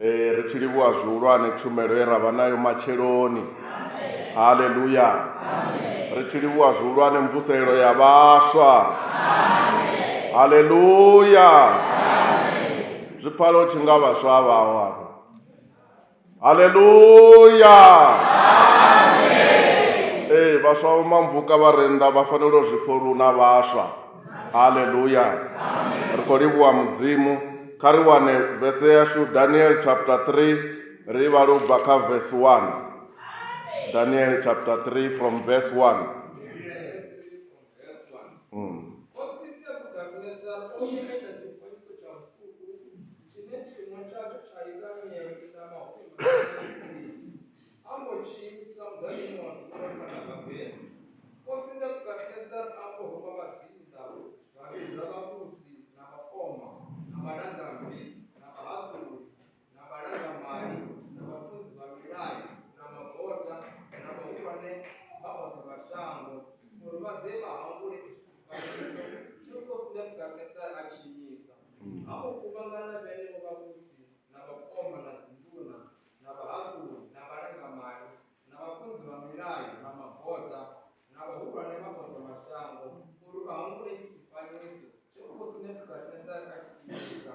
Ee, ri tshi livhuwa zwihulwane tshumelo ye ra vha nayo matsheloni haleluya ri tshi livhuwa zwihulwane mvuselelo ya vhaswa haleluya zwi pfala u tshi nga vhaswa a vhaho afho haleluya ee vhaswa vho mamvuka vha re nnḓa vha fanela u zwi pfha uri hu na vhaswa haleluya ri khou livhuwa mudzimu kha ri wane vese yashu daniel chapter 3 ri vhale u bva kha verse 1 daniel chapter 3 from verse 1 mm. A mbo tshi imisa muḓanyoni wa ṱuwa phanḓa ha Bela. Khosi Nebukadnetsar a mbo ruma vhaḓinḓa, vha vhidza vhavhusi na vhakoma na vhalangammbi na vhahaṱuli na vhalangamali na vhafunzi vha milayo na magota na vhahulwane vha oṱhe vha shango uri vha ḓe vha hangule itsho tshifanyiso tshe khosi Nebukadnetsar a tshi imisa. A mbo kuvhangana vhenevho vhavhusi na vhakoma na dzinduna na vhahaṱuli na vhalangamali na vhafunzi vha milayo na mabota na vhahulwane vha oṱhe mashango uri vha humbule itshi tshifanyiso tshe khosi nebukadnezara a tshi imisa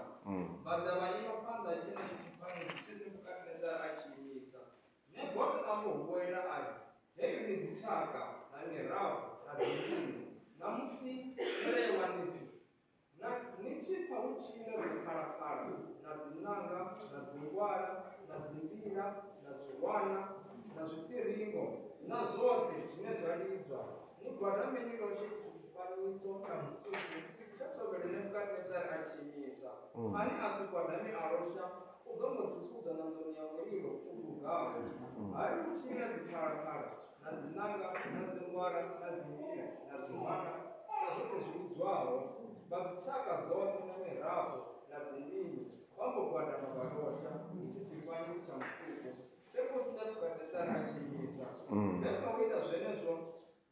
vha ḓa vha ima phanḓa ha tshenetshi tshifanyiso tshe nebukadnezara a tshi imisa nebota a mbo huwelela a ri heyo ndi dzitshaka na mirafho na dzinḓunu ṋamusi tshelewanithi Na, ni tshi pfa hu tshi ḽa dziphalaphala na dziṋanga na dzingwala na dzimbila na zwiwana na zwiṱiringo na zwoṱhe zwine zwa lidzwa, ni gwadame ni loshe itsho tshifanyiso tsha musuku tsha thovhele Nebukadnezare a tshi imisa. Ane a si gwadame a losha u ḓo mbo ḓi kudzwa ṋanḓoni ya mulilo u dugaho. Ha ri hu tshi ḽa dziphalaphala na dzinanga na dzingwara na dzimia na zwihwana na zwoṱhe zwi vhudzwaho vha dzitshaka dzoṱhe na mirafho na dzindimi vha mbo gwadama vha losha itshi tshifanyiso tsha musuku tshe khosi nebukadnetsara a tshi imisa he kha u ita zwenezwo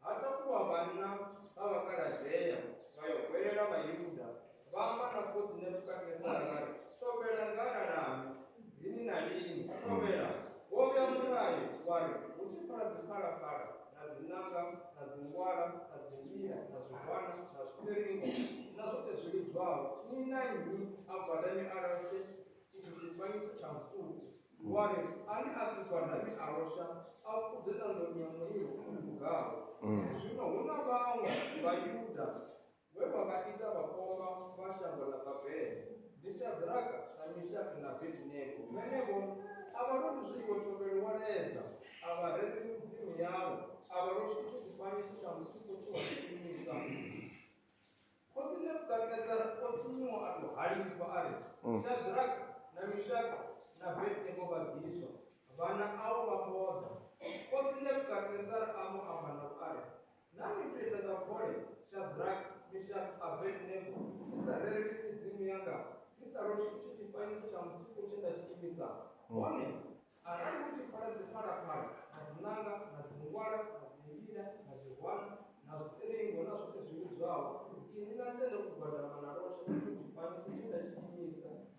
ha takuwa vhanna vha vhakaladea vha yo gwelela vhayuda Vha amba na khosi Nebukadnezara vha ri, Thobela nḓala lanu, lini na lini, thobela. Wo vhea mulayo wa ri, Hu tshi pfala dziphalaphala na dzinanga na dzingwala na dzimila na zwigwana na zwipiringo na zwoṱhe zwi lidzwaho, nnyi na nnyi a gwadame a loshe tshithu tshifanyiso tsha musuku. Wa ri, Ane a si gwadame a losha, a fhudze ṋanḓoni ya mulilo u dugaho. Zwino hu na vhaṅwe Vhayuda Vhe vha vha ita vhakoma vha shango ḽa Babele, ndi Shadraka na Mishaki na Abedinego. Vhenevho a vha loli zwiḽiwa thovhelo wa ledza, a vha rereli midzimu yavho, a vha loli tshithu tshifanyiso tsha musuku tshe wa tshi imisa. Khosi Nebukadnezara o sinyuwa a tou halifha a ri, Shadraka na Mishaka na Abedinego vha bviswa! Vhana au vha mbo ḓa. Khosi Nebukadnezara a mbo amba navho a ri, Naa ni ḓo ita nga vole Shadrake, Mishake, Abednego ni sa rereli midzimu yanga, ni sa roswi itshi tshifanyiso tsha musuku tshe nda tshi imisa? Hone arali hu tshi pfala dziphalaphala na dziṋanga na dzingwala na dzindila na zwihwana na zwiṱiringo na zwoṱhe zwi vhidzwaho, inwi na tenda u gwadama na losha itshi tshifanyiso tshe nda tshi imisa,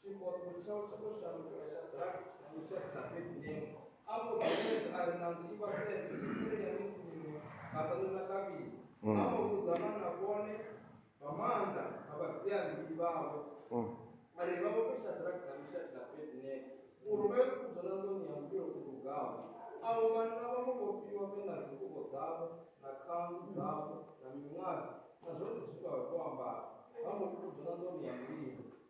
Tshiofho tshao tsha ḓo shandukela Shadrake, Mishake na Abedinego. Afho Daniele a ri na nḓu i vha sedze, uri ya ni sinyuwe nga ṱaṋu na kavhili. A vho vhudza vhana vhone vha maanḓa na vhadzia-mbilu vhavho a ri vha vhofhe Shadrake na Mishake na Abedinego uri vha yo kudzwa na nḓuni ya mulilo u dugaho. Avho vhanna vha mbo vhofhiwa vhe na dzingubo dzavho na khanzu dzavho na miṅwadzi na zwoṱhe zwe vha vha vho ambara, vha mbo kudzwa na nḓuni ya mulilo.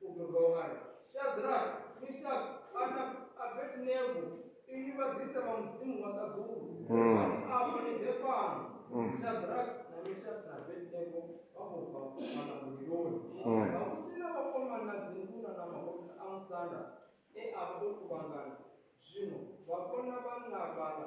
U ḓo dovha a ri, Shadraka, Mishaka kana Abedinego, inwi vhaḓisa vha Mudzimu wa ṱaḓulu, bvani afha ni ḓe fhano! Shadraka na Mishaka na Abedinego vha mbo ḓi vha fhufhana muliloni. Vhavhusi na vhakoma na dzinduna na mahosi a musanda e a vha o kuvhangana zwino vha vhona vhanna vhaḽa.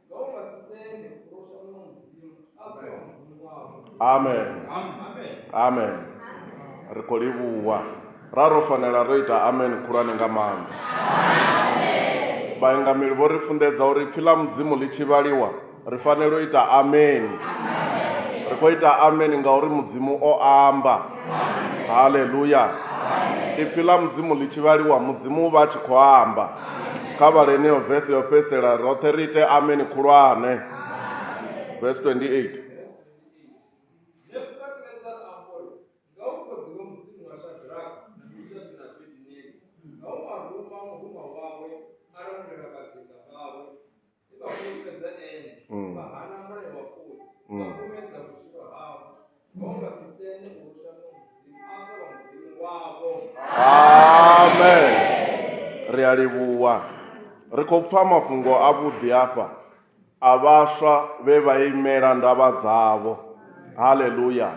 amen amen ri khou livhuwa ra ro fanela ro ita amen khulwane nga maanḓa vhaengameli vho ri funḓedza uri pfhi ḽa mudzimu ḽi tshi vhaliwa ri fanela u ita amen ri khou ita amen ngauri mudzimu o amba haleluya ipfhi ḽa mudzimu ḽi tshi vhaliwa mudzimu u vha a tshi khou amba kha vhale heneyo vese yo fhedzisela roṱhe ri ite ameni khulwane vese 28 amen ri a livhuwa ri khou pfa mafhungo a vhuḓi afha a vhaswa vhe vha imela ndavha dzavho haleluya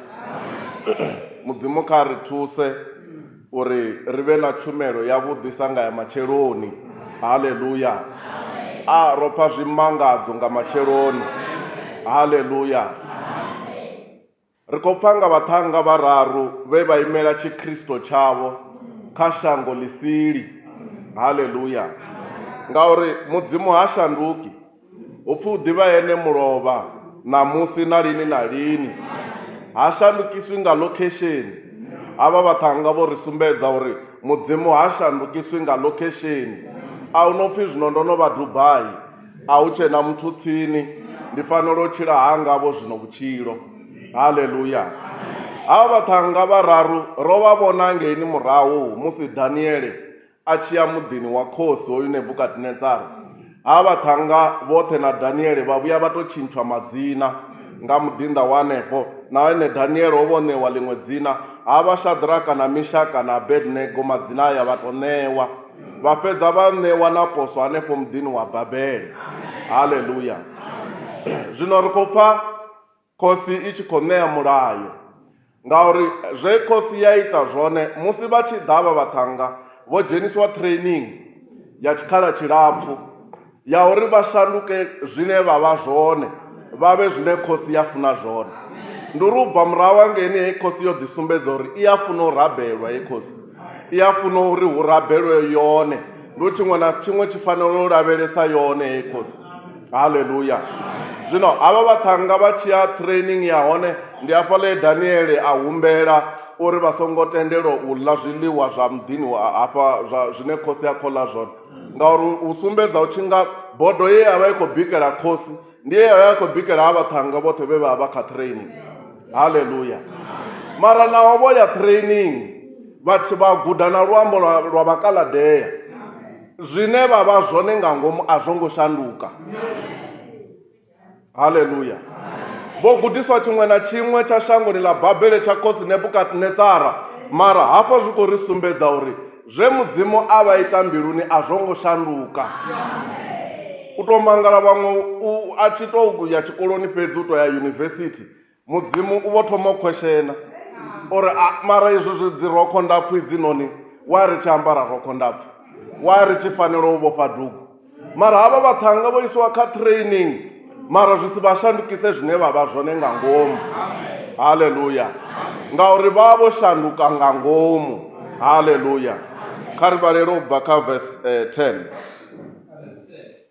mudzimu kha ri thuse uri ri vhe na tshumelo ya vhuḓi sa nga ya matsheloni haleluya a ro pfa zwimangadzo nga matsheloni haleluya ri khou pfa nga vhaṱhannga vhararu vhe vha imela tshikristo tshavho kha shango ḽisili haleluya ngauri mudzimu ha shanduki Hu pfi u ḓivha ene mulovha ṋamusi na lini na lini. Ha shandukiswi nga lokhesheni. Havha vhaṱhannga vho ri sumbedza uri Mudzimu ha shandukiswi nga lokhesheni. A hu no pfi zwino ndo no vha Dubai, a hu tshe na muthu tsini, ndi fanela u tshila hanga-vho zwino vhutshilo. Haleluya! Havha vhaṱhannga vhararu ro vha vhona ngeini murahu musi Daniele a tshi ya muḓini wa khosi hoyu Nebukadnetsara, ha vhaṱhannga vhoṱhe na Daniele vha vhuya vha tou tshintshwa madzina nga muḓinḓa wa henefho, na ene Daniele o vha o ṋewa ḽiṅwe dzina, ha vha Shadraka na Mishaka na Abednego, madzina aya vha tou ṋewa, vha fhedza vha ṋewa na poswo hanefho muḓini wa Babele. Haleluya! Zwino ri khou pfa. Khosi i tshi khou ṋea mulayo, ngauri zwe khosi ya ita zwone musi vha tshi ḓa vha vhaṱhannga vho dzheniswa training ya tshikhala tshilapfu ya uri vha shanduke zwine vha vha zwone vha vhe zwine khosi ya funa zwone. Ndi uri u bva murahu hangeini heyi khosi yo ḓi sumbedza uri i a funa u rabelwa heyi khosi. I a funa uri hu rabelwe yone, ndi uri tshiṅwe na tshiṅwe tshi fanela u lavhelesa yone heyi khosi. haleluya zwino havha vhaṱhannga vha tshi ya training ya hone ndi hafha ḽe daniele a humbela uri vha songo tendelwa u ḽa zwiḽiwa zwa muḓini wa hafha zwa zwine khosi ya khola zwone ngauri u sumbedza u tshi nga bodo ye ya vha i khou bikela khosi ndi ye ya vha i khou bikela ha vhaṱhannga vhoṱhe vhe vha vha kha training haleluya mara naho vho ya training vha tshi vha guda na luambo lwa lwa vhakaladea zwine vha vha zwone nga ngomu a zwo ngo shanduka haleluya vho gudiswa tshiṅwe na tshiṅwe tsha shangoni ḽa babele tsha khosi nebukadnetsara mara hafho zwi khou ri sumbedza uri zwe mudzimu a vha ita mbiluni a zwo ngo shanduka u tou mangala vhaṅwe a tshi tou ya tshikoloni fhedzi u tou ya yunivesithi Mudzimu u vho thoma u khweshena uri a mara izwi zwi dzi rokho ndapfu idzinoni wa ri tshi ambara rokho ndapfu wa ri tshi fanela u vhofha dugu mara havha vhaṱhanga vho isiwa kha training mara zwi si vha shandukise zwine vha vha zwone nga ngomu haleluya ngauri vha vho shanduka nga ngomu haleluya kha ri vhalele u bva kha vesi 10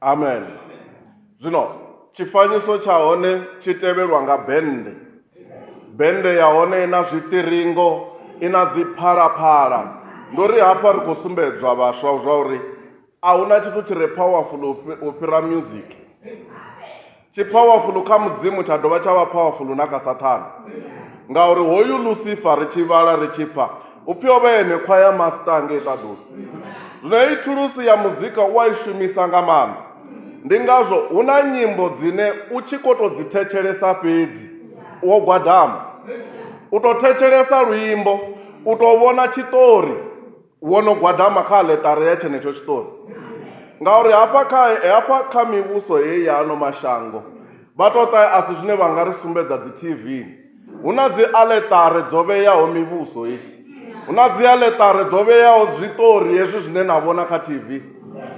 amen zwino tshifanyiso tsha hone tshi tevhelwa nga bennde bennde ya hone i na zwiṱiringo i na dzi phalaphala ndo ri hafha ri khou sumbedzwa vhaswa zwa uri a hu na tshithu tshi re powerful u fhira music Tshi phawafulu kha Mudzimu tsha dovha tsha vha phawafulu na kha Sathane. Ngauri hoyu Lusifa ri tshi vhala ri tshi pfa u pfi o vha ene khwa ya masita ngei ṱaḓulu. Zwino heyi thulusi ya muzika u a i shumisa nga maanḓa. Ndi ngazwo hu na nyimbo dzine u tshi ko to dzi thetshelesa fhedzi wo gwadama. U to thetshelesa luimbo, u to vhona tshiṱori. wo no gwadama kha aḽeṱare ya tshenetsho tshiṱori ngauri hafha kha hafha kha mivhuso heyi ya ano mashango vha tou ṱa a si zwine vha nga ri sumbedza dzi tv hu na dzi aḽeṱare dzo vheyaho mivhuso heyi hu na dzi aḽeṱare dzo vheyaho zwiṱori hezwi zwine na vhona kha tv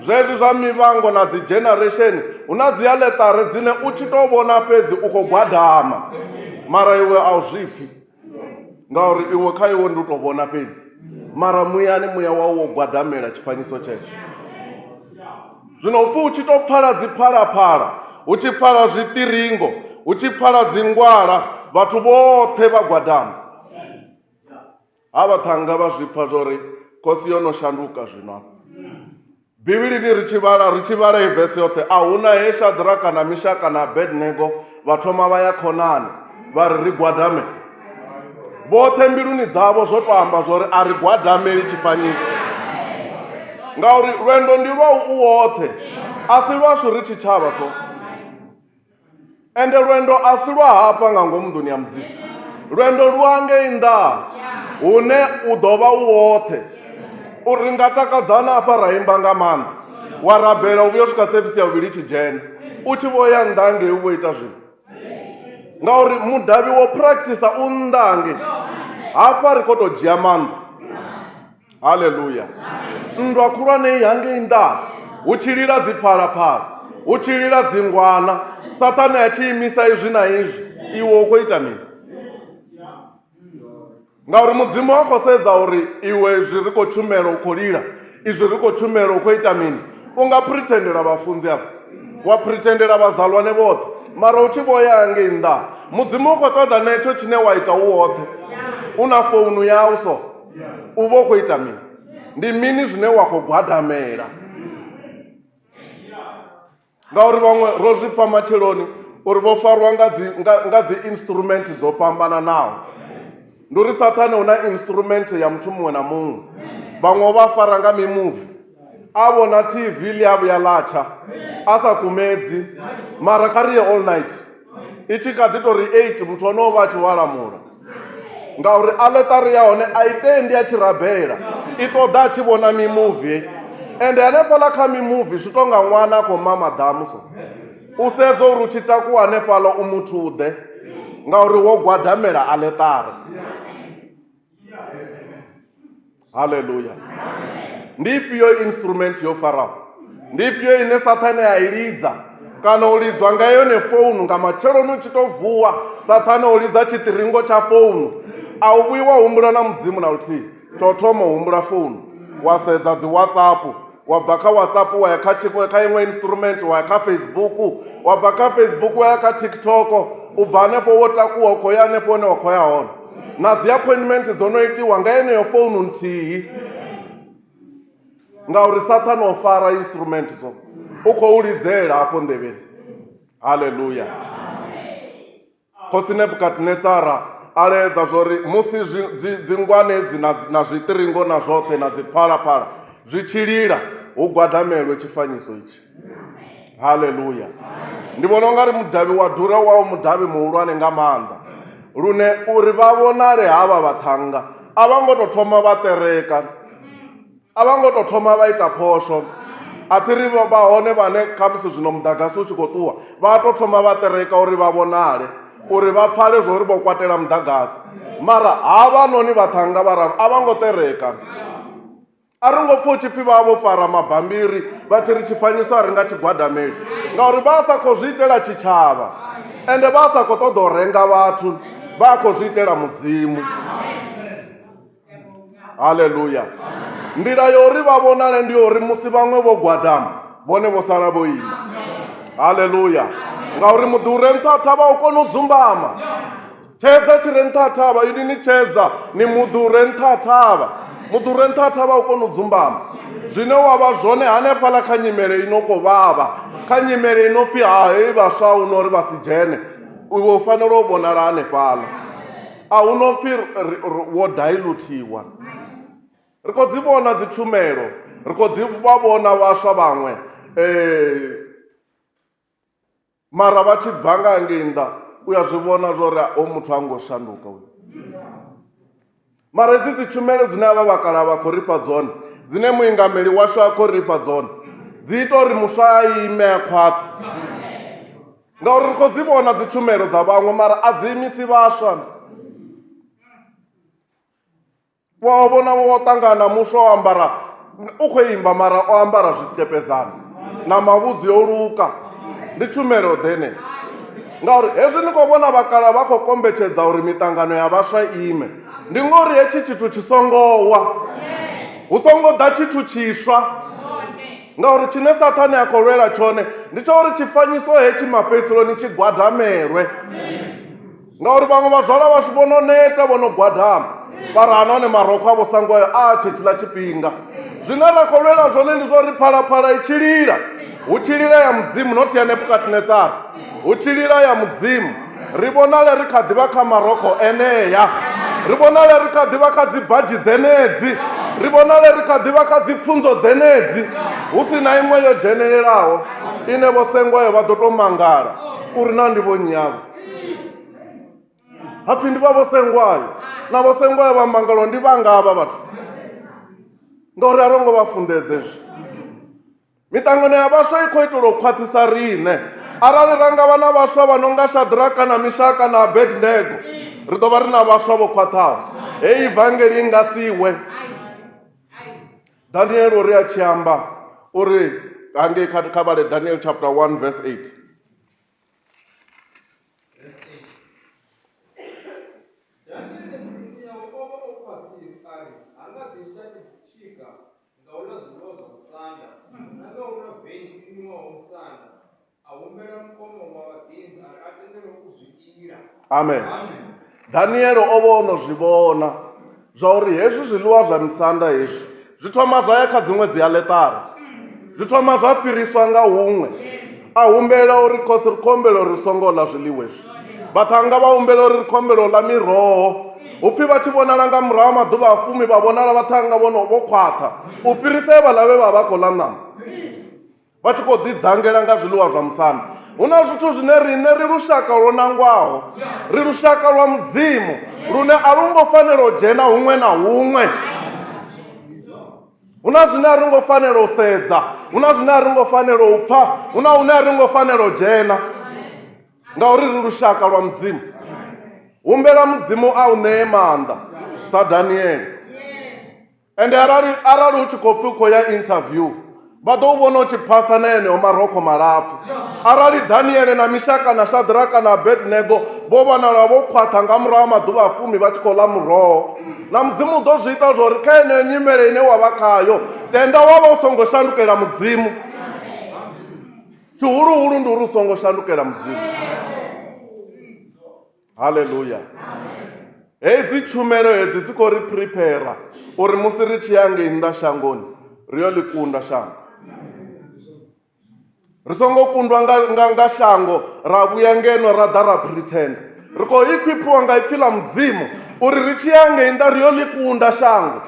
zwezwi zwa mivhango na dzi generation hu na dzi aḽeṱare dzine u tshi tou vhona fhedzi u khou gwadama mara iwe a u zwipfhi ngauri iwe kha iwe ndi u tou vhona fhedzi mara muyani muya wau wo gwadamela tshifanyiso tshetsho zwino upfi u tshi tou pfala dziphalaphala hu tshi pfala zwiṱiringo hu tshi pfala dzingwala vhathu vhoṱhe vha gwadama ha vhaṱhanga vha zwi pfa zwa uri khosi yo no shanduka zwino Bivhilini ri tshi vhala, ri tshi vhala heyi vese yoṱhe, a hu na he Shadraka na Mishaka na Abednego vha thoma vha ya khonani vha ri ri gwadame. Vhoṱhe mbiluni dzavho zwo tou amba zwo ri a ri gwadameli tshifanyiso, ngauri lwendo ndi lwa u woṱhe, a si lwashu ri tshitshavha so. ende lwendo a si lwa hafha nga ngomu nḓuni ya mudzimu lwendo lu angei nnḓa hune u ḓo vha u woṱhe uri nga takadzana hafha ra imba nga maanḓa wa rabela u vhuya swika sevisi ya vhuvhili tshi dzhena u tshi vho ya nnḓa ngei u vho ita zwino ngauri mudavhi wo practice u nnḓa nge hafha ri khou tou dzhia maanḓa haleluya nndwa khulwane i hangei nnḓa hu tshi lila dziphalaphala hu tshi lila dzingwana sathane a tshi imisa izwi na izwi iwe u khou ita mini ngauri mudzimu a khou sedza uri iwe izwi ri khou tshumela u khou lila izwi ri khou tshumela u khou ita mini u nga pretendela vhafunzi afho wa pretendela vhazalwane vhoṱhe mara u tshi vho ya hangei nnḓa mudzimu u khou ṱoḓa na hetsho tshine wa ita u woṱhe u na founu yau so u vha u khou ita mini ndi mini zwine wa khou gwadamela ngauri vhaṅwe ro zwi pfa matsheloni uri vho farwa nga dzi nga, nga dzi instrument dzo fhambananaho ndi uri sathane hu na instrument ya muthu muṅwe na muṅwe vhaṅwe vha fara nga mimuvi a vhona tv ḽi a vhuya ḽa tsha a sa kumedzi mara kha ri ye all night i tshi kha ḓi tou ri eight muthu ono vha a tshi walamula ngauri aḽeṱari ya hone a i tendi a tshi rabela i ṱoḓa a tshi vhona mimuvi ende hanefhaḽa kha mimuvi zwi tou nga ṅwana a khou mama ḓamu so u sedza uri u tshi takuwa hanefhaḽa u muthu ḓe ngauri wo gwadamela aḽeṱari haleluya ndi ifhio instrument yo faraho ndi ifhio ine sathane a i lidza kana u lidzwa nga yone founu nga matsheloni u tshi to vuwa sathane o lidza tshiṱiringo tsha founu a u vhuyi wa humbula na mudzimu na luthihi tsho thoma u humbula founu wa sedza dzi whatsapp wa bva kha whatsapp wa ya kha kha iṅwe instrument wa ya kha facebook wa bva kha facebook wa ya kha tiktok u bva hanefho wo takuwa u khou ya hanefho hune wa khou ya hone na dzi appointment dzo no itiwa nga yeneyo founu nthihi ngauri sathane o fara instrument so u khou lidzela hafho nḓevheni halleluya Khosi Nebukadnetsara a laedza zwori musi dzingwane dzi na zwiṱiringo na zwoṱhe na dziphalaphala zwi tshi lila hu gwadamelwe tshifanyiso itshi haleluya ndi vhona ungari mudavhi wa dura wa u mudavhi muhulwane nga maanḓa lune uri vha vhonale havha vhaṱhannga a vha ngo tou thoma vha ṱereka a vha ngo tou thoma vha ita phosho a thi ri vha hone vhane khamusi zwino muḓagasi u tshi khou ṱuwa vha tou thoma vha ṱereka uri vha vhonale uri vha pfale zwo uri vho kwatela muḓagasi mara ha vha noni vhaṱhannga vhararu a vha ngo ṱereka a ri ngo pfha u tshi pfhi vha vho fara mabambiri vha tshi ri tshifanyiso a ri nga tshigwadameli ngauri vha sa khou zwi itela tshitshavha ende vha sa khou ṱoḓa u renga vhathu vha khou zwi itela mudzimu haleluya nḓila ya uri vha vhonale ndi uri musi vhaṅwe vho gwadama vhone vho sala vho ima haleluya ngauri muḓi u re nṱha thavha u kona u dzumbama tshedza tshi re nṱha thavha ini ni tshedza ni muḓi u re nṱha thavha muḓi u re nṱha thavha u kona u dzumbama zwine wa vha zwone hanefhaḽa kha nyimele i no khou vhavha kha nyimele i no pfhi ha hei vhaswa u no uri vha si dzhene iwe u fanela u vhonala hanefhaḽa a hu no pfi ri- ri- ri- wo dilutiwa ri khou dzi vhona dzi tshumelo ri khou dzi vha vhona vhaswa vhaṅwe eh, mara vha tshi bva nga ngei nnḓa u ya zwi vhona zwo ri o muthu a ngo shanduka uyu mara hedzi dzi tshumelo dzine avha vhakala vha khou ri fha dzone dzine muingameli washu a khou ri fha dzone dzi ita uri muswa a ime a khwaṱhe ngauri ri khou dzi vhona dzi tshumelo dza vhaṅwe mara a dzi imisi vhaswa wa vhona wo ṱangana muswa o ambara u khou imba mara o ambara zwiṱepezana na mavhudzi yo luka ndi tshumelo ḓene ngauri hezwi ni khou vhona vhakala vha khou kombetshedza uri miṱangano ya vhaswa ime ndi ngori hetshi tshithu tshi songo wa hu songo ḓa tshithu tshiswa Ngauri tshine Sathane a khou lwela tshone ndi tsha uri tshifanyiso hetshi mafhedziseloni tshi gwadamelwe. Ngauri vhaṅwe vhazwala vhashu vho no neta vho no gwadama vhari ha nahone marokho avho sango ayo a tshetshiḽa tshifhinga zwine ra khou lwela zwone ndi zwa uri phalaphala i tshi lila hu tshi lila ya mudzimu not ya nebukadnesara hu tshi lila ya mudzimu ri vhonale ri kha ḓivha kha marokho enea ri vhonale ri kha ḓivha kha dzibadzhi dzenedzi ri vhonale ri kha ḓivha kha dzipfunzo dzenedzi hu si na iṅwe yo dzhenelelaho ine vho sengwayo vha ḓo tou mangala uri na ndi vho nnyi yavho hapfi ndi vha vho sengwayo na vho sengwayo vha mangalo ndi vhanga havha vhathu ngauri a ro ngo vha funḓedze zwi Miṱangano ya vhaswa i khou itelwa u khwaṱhisa riṋe. Arali ra nga vha na vhaswa vha no nga Shadraka na Mishaka na Abednego, ri ḓo vha ri na vhaswa vho khwaṱhaho. Hei ivangeli i nga si we. Daniel uri a tshi amba uri hangei kha kha vhale Daniel chapter 1 verse 8. Daniele murusi yawe o vha o khwaṱhisa a ri ha nga ḓi shaki dzitshika nga u ḽa zwiḽiwa zwa musanda na nga u nwa veini i nwiwaho musanda, a humbela mukono wa vhaḓinḓa a ri a tendelwe u zwi ila. Amen. Daniele o vha o no zwi vhona zwa uri hezwi zwiḽiwa zwa misanda hezwi zwi thoma zwa ya kha dziṅwe dzi aletara zwi thoma zwa fhiriswa nga huṅwe a humbela uri khosi ri khombela uri ri songo ḽa zwiḽiwa izwi vhaṱhannga vha humbela uri ri khombela u ḽa miroho upfi vha tshi vhonala nga murahu maḓuvha a fumi vha vhonala vhaṱhannga vhono vho khwaṱha u fhirisa e vhaḽa vhe vha vha khou ḽa ṋama vha tshi khou ḓidzangela nga zwiḽiwa zwa musanda hu na zwithu zwine riṋe ri lushaka lwo nangwaho ri lushaka lwa mudzimu lune a lu ngo fanela u dzhena huṅwe na huṅwe hu na zwine a ri ngo fanela u sedza hu na zwine a ri ngo fanela u pfha hu na hune a ri ngo fanela u dzhena ngauri ri lushaka lwa mudzimu humbela mudzimu a u ṋee maanḓa sa daniele ende arali arali u tshi khou pfhi u khou ya interview vha ḓo u vhona u tshi phasa na eneo marokho malapfu arali daniele na mishaka na shadraka na abednego vho vhonala vho khwaṱha nga murahu ha maḓuvha a fumi vha tshi khou ḽa muroho na mudzimu u ḓo zwi ita zwori kha yeneyo nyimele ine wa vha khayo tenda wa vha u songo shandukela mudzimu tshihuluhulu ndi uri u songo shandukela mudzimu haleluya hedzi tshumelo hedzi dzi khou ri prepara uri musi ri tshi ya ngei nnḓa shangoni ri yo ḽi kunda shango ri songo kundwa nga, nga, nga shango ra vhuya ngeno ra ḓa ra pretend ri khou equipiwa nga ipfi ḽa mudzimu uri ri tshi ya ngei nnḓa ri yo ḽi kunda shango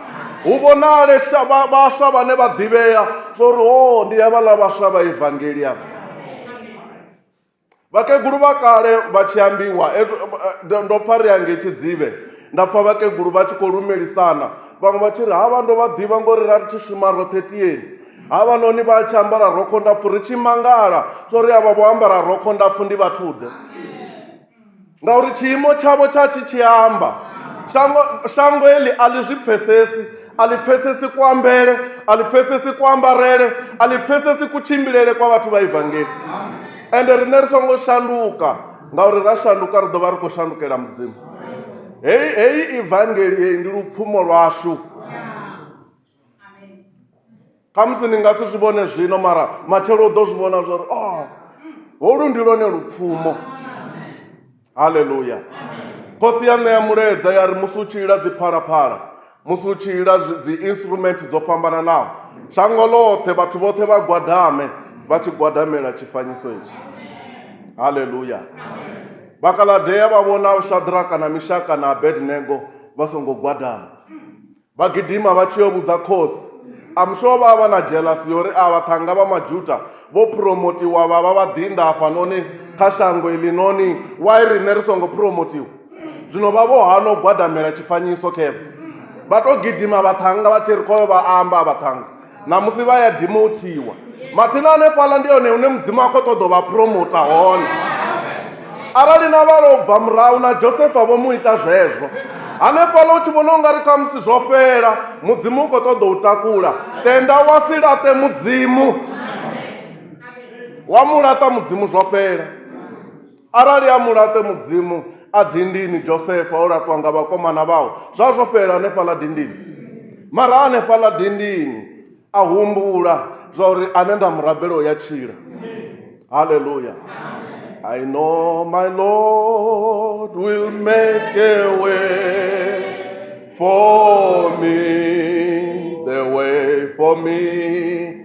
hu vhonale sha- vha- vhaswa vhane vha ḓivhea zwa uri o ndi havhaḽa vhaswa vha evangelia vhakegulu vha kale vha tshi ambiwa eh, eh, ndo pfa ri ange tshidzivhe nda pfa vhakegulu vha tshi khou lumelisana vhaṅwe vha tshi ri havha ndo vha ḓivha ngori ra ri tshi shuma roṱhe tiyeni havha noni vha tshi ambara rokho ndapfu ri tshi mangala so ri avha vho ambara rokho ndapfu ndi vhathuḓe ngauri tshiimo tshavho tsha tshi tshi amba shango shango eli a ḽi zwi pfesesi a ḽi pfesesi kuambele a ḽi pfesesi kuambarele a ḽi pfesesi kutshimbilele kwa vhathu vha evangeli ende riṋe ri songo shanduka ngauri ra shanduka ri ḓo vha ri khou shandukela mudzimu heyi heyi evangeli heyi ndi lupfumo lwashu khamusi ni nga si zwi vhone zwino mara matshelo u ḓo zwi vhona zwa uri oh holu ndi lwone lupfumo haleluya khosi ya ṋea mulaedza ya ri musi u tshi ila dziphalaphala musi u tshi ila zwi- dzi instrument dzo fhambananaho shango ḽoṱhe vhathu vhoṱhe vha gwadame vha tshi gwadamela tshifanyiso itshi haleluya vhakaladea vha vhona shadraka na mishaka na abednego vha songo gwadama Vha gidima vha tshi yo vhudza khosi. I'm sure vha vha na jealous ya uri avha ṱhanga vha Majuda vho promotiwa vha vha vhaḓinḓa hafhanoni kha shango iḽinoni, why riṋe ri songo promotiwa? Zwino vha vho hana u gwadamela tshifanyiso khevha vha tou gidima vhaṱhannga vha tshi ri khoyo vha amba vhaṱhannga. ṋamusi vha ya dimothiwa mathina hanefhaḽa ndi hone hune mudzimu a khou ṱoḓa u vha promota hone arali na vha lo bva murahu na josefa vho mu ita zwezwo hanefhaḽa u tshi vhona u nga ri kha musi zwo fhela mudzimu u khou ṱoḓa u takula tenda wa si laṱe mudzimu wa mu laṱa mudzimu zwo fhela Arali a mu laṱe Mudzimu a dindini, Josefa o laṱwa nga vhakomana vhawe, zwa zwo fhela hanefhaḽa dindini. Mara hanefhaḽa dindini a humbula zwa uri ane nda mu rabela o ya tshila. Hallelujah. I know my Lord will make a way for me, the way for me.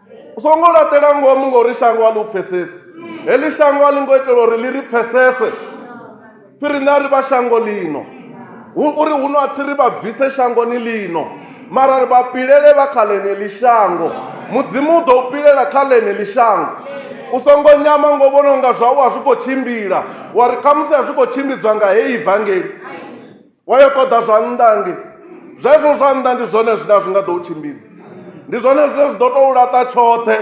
u songo laṱela ngomu ngori shango a ḽi u pfhesesi heḽi shango a ḽi ngo itela uri ḽi ri pfhesese fhiri nṋe a ri vha shango ḽino uri huno a thi ri vha bvise shangoni ḽino mara ri vha pilele vha kha ḽeneḽi shango mudzimu u ḓo u pilela kha ḽeneḽi shango u songo nyama ngo vhona unga zwau a zwi khou tshimbila wa ri khamusi a zwi khou tshimbidzwa nga heyi vangeli wa yo ṱoḓa zwa nnḓa nge zwezwo zwa nnḓa ndi zwone zwine a zwi nga ḓo u tshimbidza ndi zwone zwine zwi ḓo tou laṱa tshoṱhe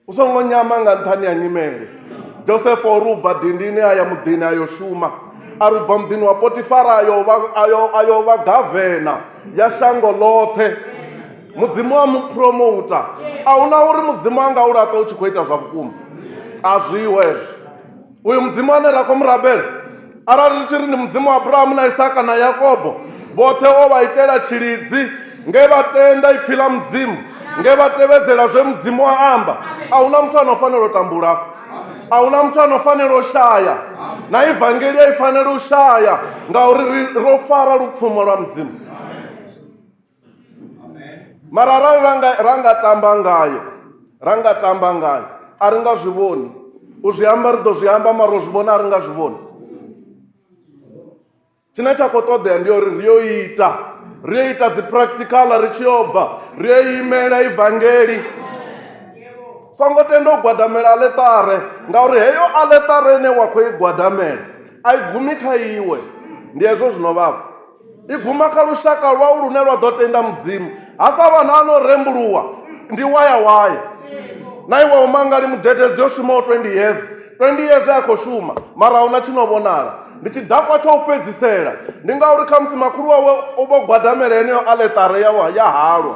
u songo nyama nga nṱhani ha nyimele josefa o ri u bva dindini a ya muḓini a yo shuma a ri u bva muḓini wa potifara a yo vha gavena ya shango ḽoṱhe mudzimu wa mu promouta a huna uri mudzimu a nga u laṱa u tshi khou ita zwa vhukuma a zwiho hezwo uyu mudzimu ane ra khou mu rabela arali ri tshi ri ndi mudzimu wa abrahamu na isaka na yakobo vhoṱhe o vha itela tshilidzi nge vha tenda ipfhi ḽa mudzimu nge vha tevhedzela zwe mudzimu a amba a huna muthu ano fanela u tambula afho a huna muthu ano fanela u shaya na evangeli a i fanela u shaya ngauri ri- ro fara lupfumo lwa mudzimu mara arali ra nga ra nga tamba ngayo ra nga tamba ngayo a ri nga zwi vhoni u zwi amba ri ḓo zwi amba mara u zwi vhona a ri nga zwi vhoni tshine tsha khou ṱoḓea ndi uri ri yo ita ri yo ita dzi practical ri tshi yo bva ri yo imela ivangeli songo tenda u gwadamela aletare ngauri heyo aletare ine wa khou i gwadamela a i gumi kha iwe ndi hezwo zwino vhavho i guma kha lushaka lwau lune lwa ḓo tenda mudzimu ha sa vha na no rembuluwa ndi waya waya na iwe umangali mudededzi yo shumaho 20 years 20 years a khou shuma mara huna tshi no vhonala ndi tshidakwa tsha u fhedzisela ndi ngauri khamusi makhulu wawe u vho gwadamela heneyo aletare ya halwa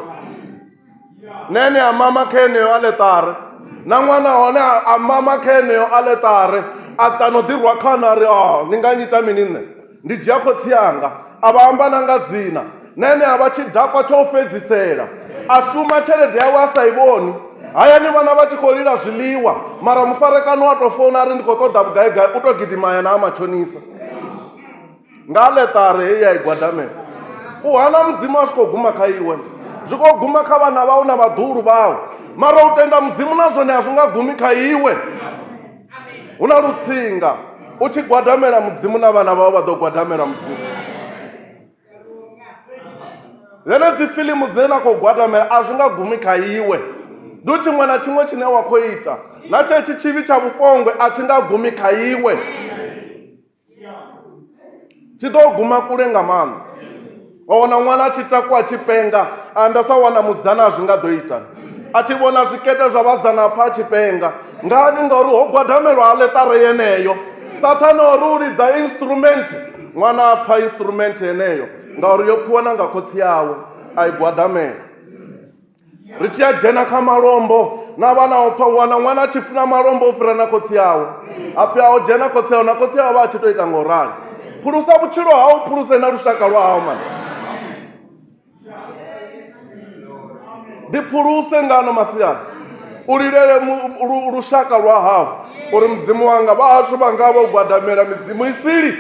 nene a mama kha yeneyo aletare na ṅwana hone a mama kha yeneyo aletare a ṱano ḓirwa khana a ri o oh, ni nga nyita mini nṋe ndi dzhia khotsi yanga a vha amba na nga dzina nene a vha tshi dakwa tsho u fhedzisela a shuma tshelede yawe a sa i vhoni hayani vhana vha tshi khou lila zwiḽiwa mara mufarekano wa tou founa a ri ndi khou ṱoḓa vhugaigai u tou gidima ya na a matshonisa nga ḽeṱare heyi ya i gwadamela u hana mudzimu a zwi khou guma kha iwe zwi khou guma kha vhana vhau na vhaḓuhulu vhau mara u tenda mudzimu na zwone a zwi nga gumi kha iwe hu na lutsinga u tshi gwadamela mudzimu na vhana vhau vha ḓo gwadamela mudzimu dzene dzi filimu dzine na khou gwadamela a zwi nga gumi kha iwe ndi u tshiṅwe na tshiṅwe tshine wa khou ita na tshetsho tshivhi tsha vhupongwe a thi nga gumi kha iwe tshi ḓo guma kule nga maanḓa wa wana ṅwana a tshi takwa a tshi penga anda sa wana mudzana a zwi nga ḓo ita a tshi vhona zwikete zwa vhazana pfa a tshi penga ngani ngauri ho gwadamelwa aletare yeneyo sathane ori u lidza instrument ṅwana a pfa instrument yeneyo ngauri yo pfiwa na nga khotsi yawe a i gwadamela ri tshi a dzhena kha malombo na vha na opfa wana ṅwana a tshi funa malombo o fhira na khotsi awe a pfhi a o dzhena khotsi awe na khotsi awe vha a tshi to ita nga u rali phulusa vhutshilo hau phuluse na lushaka lwa hau mani ndi phuluse ngano masiari u lilele lushaka lwa hau uri mudzimu wanga vhahashu vha nga vha u gwadamela midzimu isili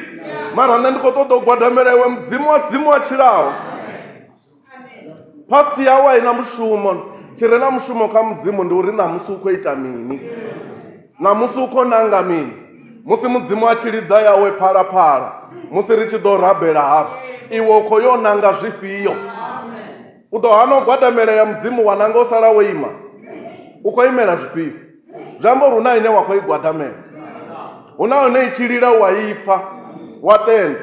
mara nṋe ndi khou ṱoḓa u gwadamela iwe mudzimu wa dzimu wa tshilaho past yau a i na mushumo tshi re na mushumo kha mudzimu ndi uri ṋamusi u khou ita mini ṋamusi u khou nanga mini musi mudzimu a tshi lidza yawe phalaphala musi ri tshi ḓo rabela hafha iwe u khou yo nanga zwifhio u ḓo hana u gwadamela ya mudzimu wa nanga u sala wo ima u khou imela zwifhio zwi amba uri hu na ine wa khou i gwadamela hu na hone i tshi lila wa ipfa wa tenda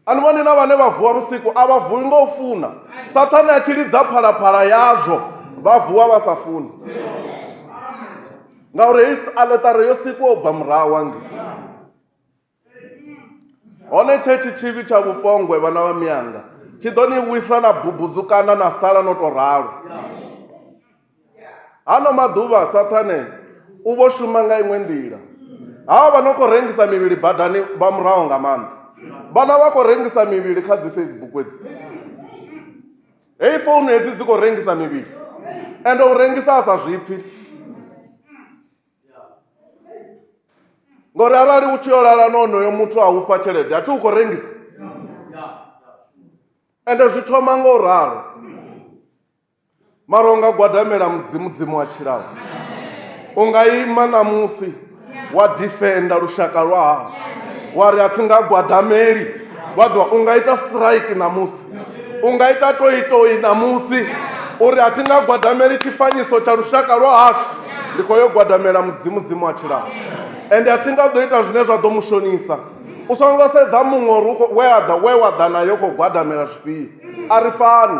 a ni vhoni na vhane vha vuwa vhusiku a vha vuwi nga u funa sathane a tshi lidza phalaphala yazwo vha vuwa vha sa funi ngauri hei aletare yo sikwa u bva murahu wange hone tshe tshitshivhi tsha vhupongwe vhana vha miyanga tshi ḓo ni wisa na bubudzukana na sala no tou ralo hano maḓuvha sathane u vho shuma nga iṅwe nḓila hawa vha no khou rengisa mivhili badani vha muraho nga maanḓa vhana vha khou rengisa mivhili kha dzi facebook edzi heyi founu hedzi dzi khou rengisa mivhili ende u rengisa a sa zwipfi ngori arali u tshi yo lala na onoyo muthu a ufha tshelede a thi u khou rengisa ende zwi thoma nga u ralo mara u nga gwadamela mudzimu dzimu wa tshilaho u nga ima ṋamusi wa difenda lushaka lwa hao wa ri a thi nga gwadameli wa ḓiwa u nga ita strike ṋamusi u nga ita toitoi ṋamusi uri a thi nga gwadameli tshifanyiso tsha lushaka lwa hashu ndi khou yo gwadamela mudzimu dzimu wa tshilaho ende a thi nga ḓo ita zwine zwa ḓo mu shonisa u songo sedza muṅwe uri u khou- we a ḓa we wa ḓa nayo u khou gwadamela zwifhio a ri fani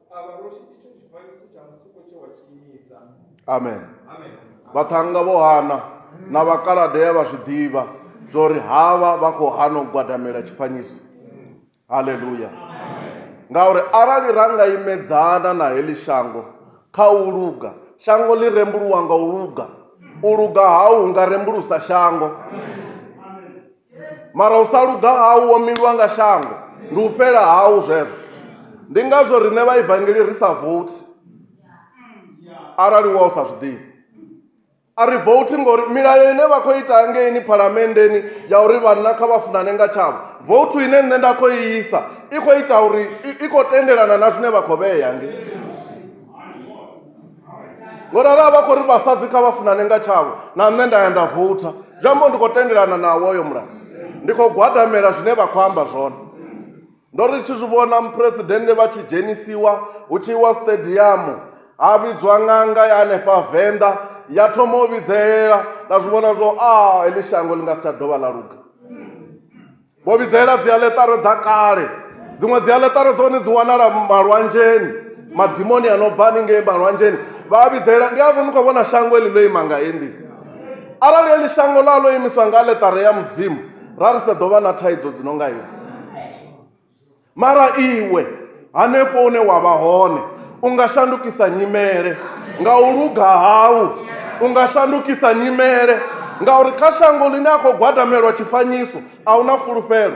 amen vhaṱhannga vho hana na vhakaladea vha zwi ḓivha zwa uri havha vha khou hana u gwadamela tshifanyiso haleluya ngauri arali ra nga imedzana na heḽi shango kha u luga shango ḽi rembuluwa nga u luga u luga hau nga rembulusa shango mara u sa luga hau wo miliwa nga shango ndi u fhela hau zwezwo ndi ngazwo riṋe vha evangeli ri sa vouthi arali wa u sa zwi ḓivhi a ri vouthi ngori milayo ine vha khou ita hangeini phalamenndeni ya uri vhanna kha vha funane nga tshavho vouthu ine nṋe nda khou i isa i khou ita uri i khou tendelana na zwine vha khou vhea ngei ngori arali vha khou ri vhasadzi kha vha funane nga tshavho na nṋe nda ya nda voutha zwi amba ndi khou tendelana nawo oyo mulayo ndi khou gwadamela zwine vha khou amba zwone ndo ri tshi zwi vhona muphuresidennde vha tshi dzhenisiwa hu tshi iwa stadium ha vhidzwa ṅanga ya hanefha venḓa ya thoma u vhidzelela nda zwi vhona zwo a heḽi shango ḽi nga si tsha dovha ḽa luga vho vhidzelela dzialetaro dza kale dziṅwe dzialetaro dza hone dzi wanala malwanzheni madimoni a no bva haningei malwanzheni vha a vhidzelela ndi azwo ni khou vhona shango eli ḽo ima nga hendi arali eli shango ḽa ḽo imiswa nga aletare ya mudzimu ra ri sa ḓo vha na thaidzo dzi no nga hedzi mara iwe hanefho hune wa vha hone u nga shandukisa nyimele nga u luga hau u nga shandukisa nyimele ngauri kha shango ḽine a khou gwadamelwa tshifanyiso a hu na fulufhelo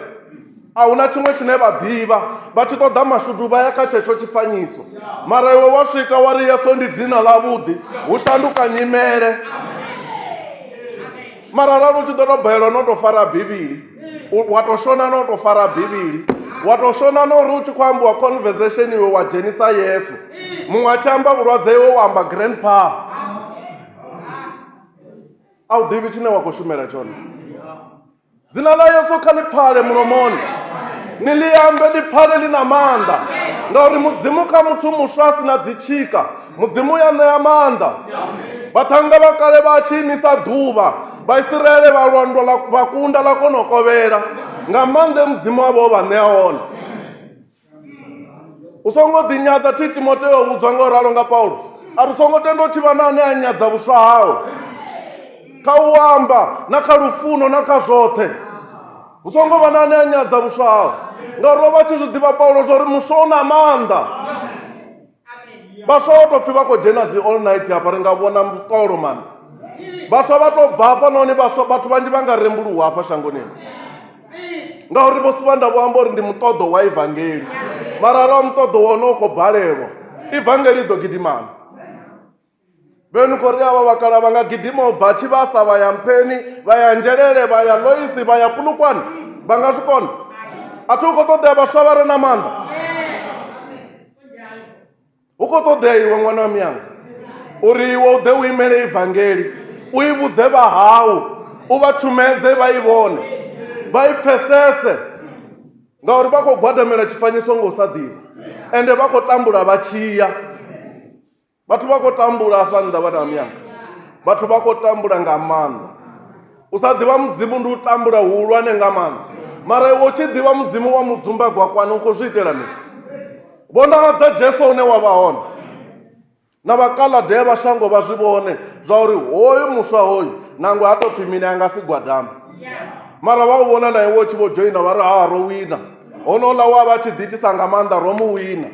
a hu na tshiṅwe tshine vha ḓivha vha tshi ṱoḓa mashudu vha ya kha tshetsho tshifanyiso mara iwe wa swika wa ri yeso ndi dzina ḽavhuḓi hu shanduka nyimele mara arali u tshi ḓo tou balelwa no tou fara bivhili U- wa tou shona na u tou fara bivhili wa tou shona na uri u tshi khou ambiwa conversation iwe wa dzhenisa yesu muṅwe a tshi amba vhulwadze iwe wa amba grandpa a u ḓivhi tshine wa khou shumela tshone dzina ḽa yesu kha ḽi pfale mulomoni ni ḽi ambe ḽi pfale ḽi na maanḓa ngauri mudzimu kha muthu muswa a si na dzitshika mudzimu ya ṋea maanḓa vhaṱhannga vha kale vha tshi imisa ḓuvha vhaisiraele vha lwandwa la vha kunda ḽa kona u kovhela nga maanḓa mudzimu wavho o vha ṋea one u songo ḓinyadza thi timoteo vhudzwa nga u ralo nga paulo a ri songo tenda u tshi vha na ane a nyadza vhuswa hawe kha u amba na kha lufuno na kha zwoṱhe hu songo vha na ane a nyadza vhuswa hawe ngauri o vha tshi zwi ḓivha paulo zwa uri muswa u na maanḓa vhaswa vha tou pfhi vha khou dzhena dzi all night hafha ri nga vhona mutolo mani vhaswa vha tou bva hafha nahone vhaswa vhathu vhanzhi vha nga rembuluwa hafha shangoni ngauri vho sivha nda vho amba uri ndi muṱoḓo wa evangeli mara arali wa muṱoḓo wa hone u khou balelwa evangeli i ḓo gidimana vhenu khori avha vhakala vha nga gidima u bva tshivhasa vha ya mpheni vha ya nzhelele vha ya loisi vha ya pulukwane vha nga zwi kona a thi hu khou ṱoḓea vhaswa vha re na maanḓa hu khou ṱoḓea iwe ṅwana wa miyanga uri iwe u ḓe u imele ivangeli u i vhudze vha hau u vha tshumedze vha i vhone vha i pfesese ngauri vha khou gwadamela tshifanyiso nga u sa ḓivha ende vha khou tambula vha tshiya vhathu vha khou tambula afha nnḓa vhana miyanga vhathu vha khou tambula nga maanḓa u sa ḓivha mudzimu ndi u tambula huhulwane nga maanḓa mara iwe u tshi ḓivha mudzimu wa mudzumbagwa kwani u khou zwi itela mini vhonahadza jesu une wa vha hone na vhakaladea vha shango vha zwi vhone zwa uri hoyu muswa hoyu nangwe ha tou pfhi mini a nga si gwadame mara vha u vhona na iwe u tshi vho dzhoina vha ri ha ro wina honouḽa wa vha tshi ḓiitisa nga maanḓa ro mu wina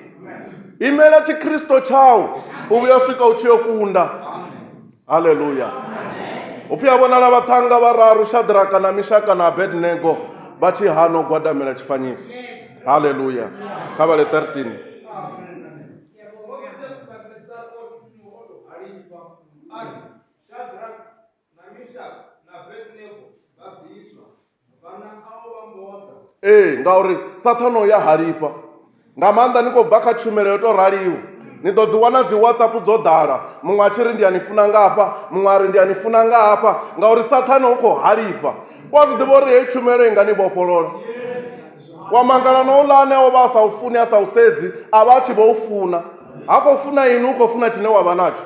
imela tshikristo tshau u vhuya swika u tshi yo kunda haleluya upfi a vhonala vhaṱhanga vhararu shadraka na mishaka na abednego vha tshi hana u gwadamela tshifanyiso haleluya kha vhale 13 Shadrach, ee ngauri sathana u ya halifha nga maanḓa ni khou bva kha tshumelo yo tou raliho ni ḓo dzi wana dzi whatsapp dzo ḓala muṅwe a tshi ri ndi a ni funa nga hafha muṅwe a ri ndi a ni funa nga hafha ngauri sathana u khou halifha u a zwi ḓivha uri heyi tshumelo i nga ni vhofholola wa mangala na uḽa ane o vha a sa u funi a sa u sedzi a vha a tshi vho u funa ha khou funa ini u khou funa tshine wa vha natsho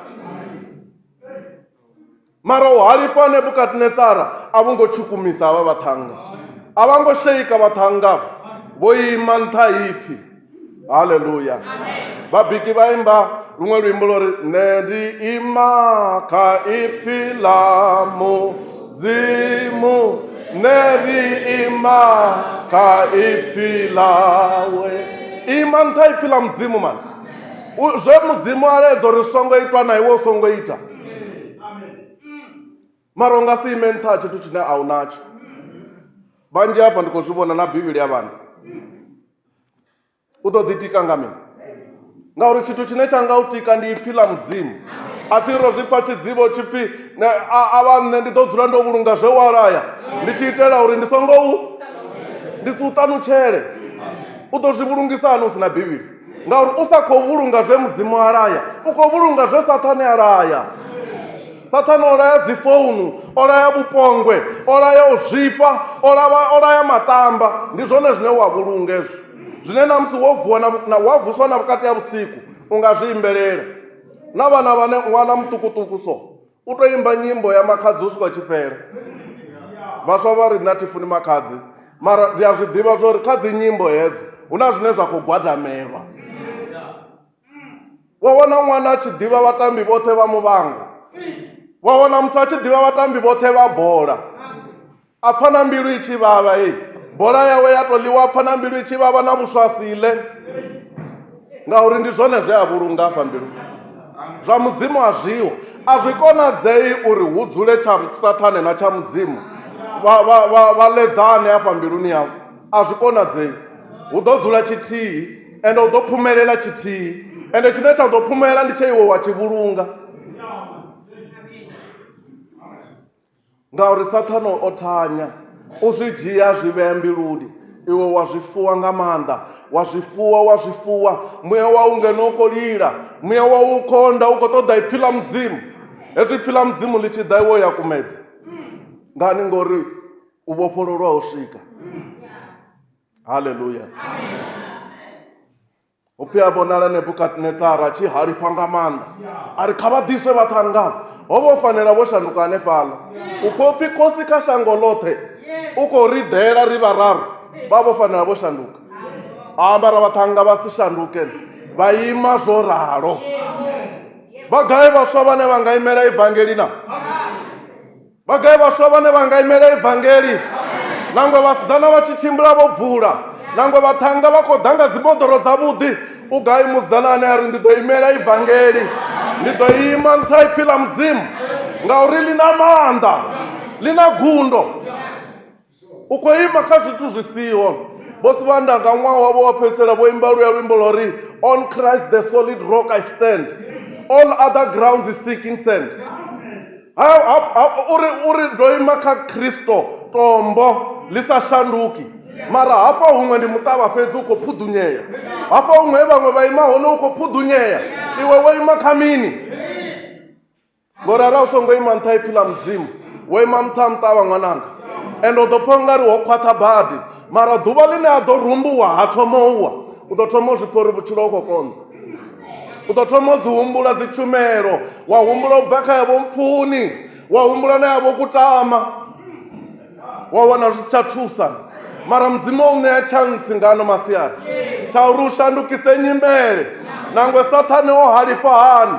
mara u halifha nebukadnetsara a vho ngo tshukumisa havha vhaṱhannga a vha ngo sheika vhaṱhannga vho ima nṱha ipfhi haleluya vhabiki vha imba luṅwe luimbo lwo ri nṋe ndi ima kha ipfhi ḽa mudzimu nṋe ndi ima kha ipfhi ḽawe ima nṱha ipfhi ḽa mudzimu mani zwe mudzimu a ledza uri songo itwa na iwe u songo ita mara u nga si ime nṱha ha tshithu tshine a u natsho vhanzhi hafha ndi khou zwi vhona na bivhili ya vhana u ḓo ḓitika nga mini ngauri tshithu tshine tsha nga u tika ndi ipfhi ḽa mudzimu a thi ro zwi pfa tshidzivho tshi pfhi ne- a a vha nṋe ndi ḓo dzula ndo vhulunga zwe wa laya ndi tshi itela uri ndi songo u ndi si u ṱanutshele u ḓo zwi vhulungisa hani u si na bivhili ngauri u sa khou vhulunga zwe mudzimu a laya u khou vhulunga zwe sathane a laya sathane o laya dzifounu o laya vhupongwe o laya u zwifha o lava- o laya matamba ndi zwone zwine wa vhulunga ezwo zwine na musi wo vuwa na- na- wa vuswa na vhukati ha vhusiku u nga zwi imbelela na vhana vhane ṅwana muṱukuṱuku so u to imba nyimbo ya makhadzi u swika tshifhela vhaswa vha ri nṋe a thi funi makhadzi mara ndi a zwi ḓivha zwa uri kha dzi nyimbo hedzo hu na zwine zwa khou gwadamelwa wa wana ṅwana a tshi ḓivha vhatambi vhoṱhe vha muvhango wa wana muthu a tshi ḓivha vhatambi vhoṱhe vha bola a pfa na mbilu i tshi vhavha e bola yawe ya to ḽiwa pfa na mbilu i tshi vhavha na vhuswa siḽe ngauri ndi zwone zwe a vhulunga afha mbilu zwa mudzimu a zwiho a zwi konadzei uri hu dzule tsha sathane na tsha mudzimu vha ledzane afha mbiluni yavho a zwi konadzei hu ḓo dzula tshithihi ende hu ḓo phumelela tshithihi ende tshine tsha ḓo phumelela ndi tshe iwe wa tshi vhulunga Ngauri Saṱhane o thanya u zwi dzhia a zwi vhea mbiluni, iwe wa zwi fuwa nga maanḓa, wa zwi fuwa, wa zwi fuwa. Muya wau ngeno u khou lila, muya wau u khonda, u khou ṱoḓa ipfi ḽa Mudzimu. Hezwi ipfi ḽa Mudzimu ḽi tshi ḓa iwe ya kumedza. Ngani? Ngori u vhofhololwa ho swika. Haleluya. upfi a vhonala nebukadnetsara a tshi halifha nga maanḓa a ri kha vha ḓiswe vhaṱhangavho ho vha u fanela vho shanduka hanefhaḽa u pfha upfi khosi kha shango ḽoṱhe u khou ri ḓela ri vhararu vha vho fanela vho shanduka ambara vhaṱhanga vha si shanduke vha ima zwo ralo vha gai vhaswa vhane vha nga imela evangeli na vhagai vhaswa vhane vha nga imela evangeli nangwe vhasidzana vha tshi tshimbila vho bvula nangwe vhaṱhanga vha khou ḓa nga dzimoḓoro dzavhuḓi u gai musidzana ane a ri ndi ḓo imela evangeli ndi ḓo ima nṱha ipfhi ḽa mudzimu ngauri ḽi na maanḓa ḽi na gundo u khou ima kha zwithu zwi siho vhosi vha nda nga ṅwaha wavho wa fhedzisela vho imba luya luimbo lwa uri on christ the solid rock i stand all other grounds is seeking sand uri uri ndo ima kha kristo tombo ḽi sa shanduki mara hafha huṅwe ndi muṱavha fhedzi u khou phuḓunyea hafha huṅwe vhaṅwe vha ima hone u khou phuḓunyea iwe wo ima kha mini ngori arali u songo ima nṱha ipfi ḽa mudzimu wo ima nṱha nṱha wa ṅwananga and u ḓo pfha u nga ri ho khwaṱha badi mara ḓuvha ḽine a ḓo rumbuwa ha thoma uwa u ḓo thoma u zwi pfha uri vhutshilo u khou konḓa u ḓo thoma u dzi humbula dzi tshumelo wa humbula u bva kha yavho mpfuni wa humbula na yavho kutama wa wana zwi si tsha thusa mara mudzimu o u ṋea tshantsi ngano masiari tsha uri u shandukise nyimele nangwe sathane o halifha hani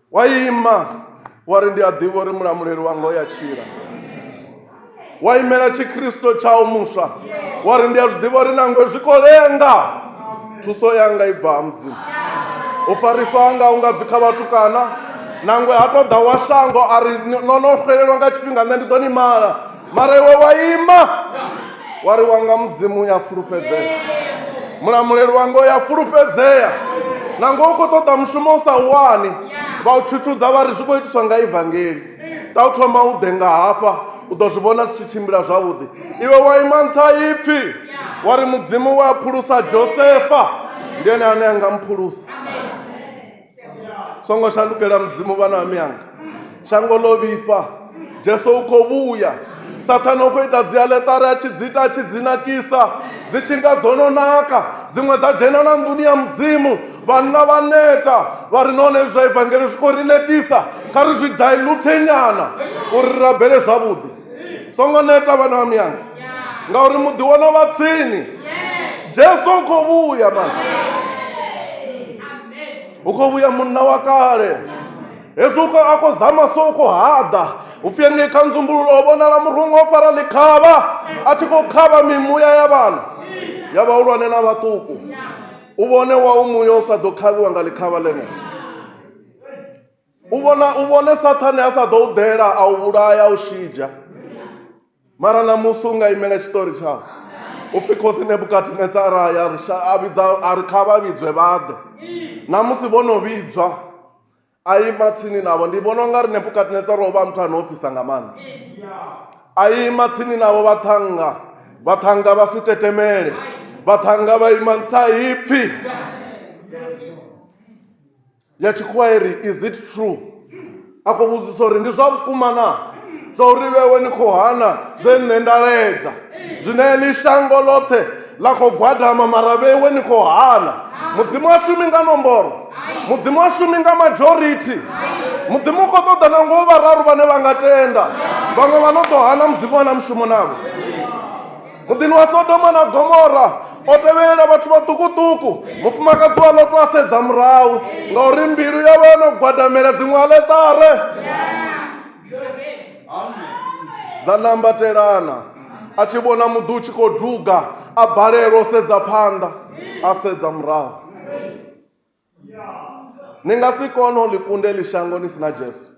wa ima wa ri ndi a ḓivha uri mulamuleli wanga o ya tshila wa imela tshikristo tshau muswa wa ri ndi a zwi ḓivha uri nangwe zwi khou lenga thuso yanga i bva ha mudzimu u farisa hanga u nga bvi kha vhatukana nangwe ha tou ḓa wa shango a ri no no xelelwa nga tshifhinga nṋe ndi ḓo ni mala mara iwe wa ima wa ri wanga mudzimu u ya fulufhedzea mulamuleli wanga u ya fulufhedzea nango u khou ṱoḓa mushumo u sa wani vha u thutudza vha ri zwi khou itiswa nga evangeli ta u thoma u ḓe nga hafha u ḓo zwi vhona zwi tshi tshimbila zwavhuḓi iwe wa ima nṱha ipfhi wa ri mudzimu wa phulusa josefa ndi ene ane a nga mphulusa songo shandukela mudzimu vhana ha miyanga shango ḽo vhifha jesu u khou vhuya sathane u khou ita dzialetare a tshi dzi ita a tshi dzi nakisa dzi tshi nga dzo no naka dziṅwe dza dzhena na nḓuni ya mudzimu vhanna vha neta vha ri nahone zwa evangeli zwi khou ri netisa kha ri zwi dilute nyana uri ri rabele zwavhuḓi songo neta vhana vha miyanga ngauri muḓi wono vha tsini jesu u khou vhuya mani hu khou vhuya munna wa kale hezwi uko a khou zama so u khou haḓa u pfhi engei kha nzumbululo ho vhonala murungo o fara ḽikhavha a tshi khou khavha mimuya ya vhana ya vhahulwane na vhaṱuku u vhone wa u muya u sa ḓo khavhiwa nga ḽikhavha ḽeneo u vhona u vhone sathane a sa ḓo u ḓela a u vhulaya a u shidzha mara ṋamusi u nga imela tshiṱori tshawe u pfhi khosi nebukadinetsara ya ri sha- a vhidza a ri kha vha vhidzwe vha ḓe ṋamusi vho no vhidzwa a ima tsini navho ndi vhona u nga ri nebukadinetsara o vha muthu ane o fhisa nga maanḓa a ima tsini navho vhaṱhannga vhaṱhannga vha si tetemele vhaṱhannga vha ima nṱha ha ipfhi ya tshikhuwa i ri is it true a khou vhudzisa uri ndi zwa vhukuma na zwa uri vhewe ni khou hana zwe nṋe nda ledza zwine ḽi shango ḽoṱhe ḽa khou gwadama mara vhewe ni khou hana mudzimu a shumi nga nomboro mudzimu a shumi nga majority mudzimu u khou ṱoḓa na ngo vhararu vhane vha nga tenda vhaṅwe vha no ḓo hana mudzimu a na mushumo navho muḓini wa sodoma na gomora o tevhelela vhathu vhaṱukuṱuku mufumakadzi wa loto a sedza murahu ngauri mbilu yawe yo no gwadamela dziṅwe aletare dza nambatelana a tshi vhona muḓi u tshi khou duga a balelwa u sedza phanḓa a sedza murahu ni nga si kone u ḽi kunda eḽi shango ni si na jesu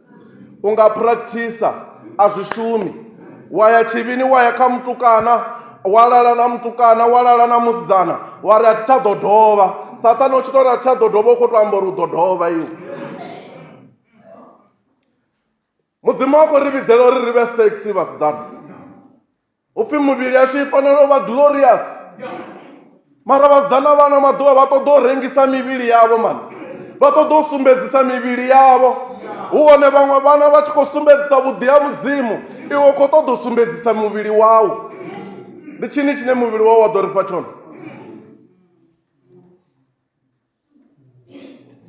u nga practisa a zwi shumi wa ya tshivhini wa ya kha mutukana wa lala na mutukana wa lala na musidzana wa ri a thi tsha ḓo dovha sathane u tshi to ri a thi tsha ḓo dovha u khou to amba uri u ḓo dovha iwe mudzimu wa khou ri vhidzela uri ri vhe sexy vhasidzana upfi mivhili yashu i fanela u vha glorious mara vhasidzana vhano maḓuvha vha ṱoḓa u rengisa mivhili yavho mani vha ṱoḓa u sumbedzisa mivhili yavho hu hone vhaṅwe vhana vha tshi khou sumbedzisa vhuḓi ha mudzimu iwe u khou ṱoḓa u sumbedzisa muvhili wau ndi tshini tshine muvhili wau wa ḓo ri fha tshone